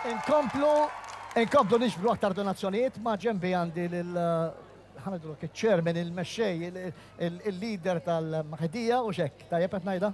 Inkomplu, inkomplu nixbru aktar donazzjonijiet ma' ġenbi għandi lil ħanidlu iċ-chairman, il-mexxej, il-leader tal-maħedija u xek, tajjeb qed ngħidha?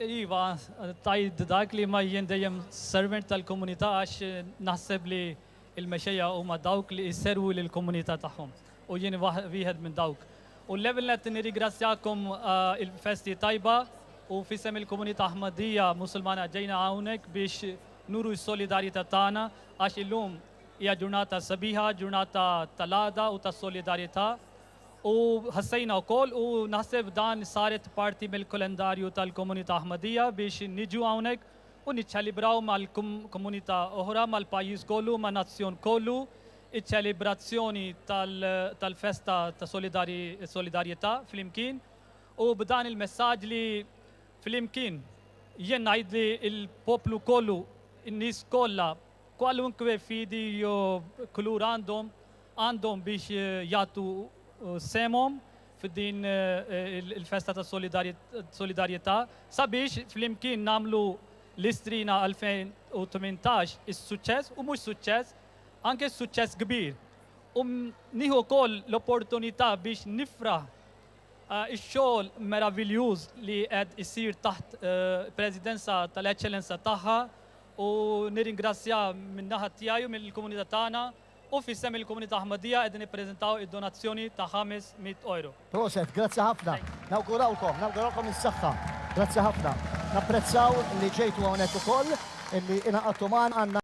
Iva, tajd dak li ma jien dejjem servant tal-komunità għax naħseb li l-mexxejja huma dawk li jservu lill-komunità tagħhom u jien wieħed minn dawk. U l-ewwel nett nirringrazzjakom il-festi tajba u f'isem il-komunità Ħmaddija Musulmana ġejna hawnhekk biex nuru s-solidarjetà tagħna għax illum hija ġurnata sabiħa, ġurnata tal-għada u tas-solidarjetà. U ħassejna wkoll u naħseb dan saret parti mill-kalendarju tal-komunità Ħmaddija biex niġu hawnhekk u niċċalibraw mal-komunità oħra, mal-pajjiż kollu, man-nazzjon kollu iċ-ċelebrazzjoni tal-festa ta' solidarjetà flimkien u b'dan il-messaġġ li flimkien jien ngħid li l-poplu kollu, in-nies kollha, kwalunkwe fidi jew kulur għandhom, għandhom biex jagħtu sehemhom f'din il-festa ta' solidarjetà sabiex flimkien nagħmlu l-Istrina 2018 is-suċċess u mhux suċċess anke suċċess kbir. U nieħu wkoll l-opportunità biex nifraħ ix-xogħol meraviljuż li qed isir taħt presidenza tal-Eċċellenza tagħha u nirringrazzja min-naħa tiegħi u mill-komunità tagħna u f'isem il-komunità Ahmadiyya qegħdin nippreżentaw id-donazzjoni ta' ħames mitt ewro. Proset, grazzi ħafna. Nawgurawlkom, nawgurawlkom is-saħħa. Grazzi ħafna. Napprezzaw li ġejtu hawnhekk ukoll, li ingħaqadtu magħna.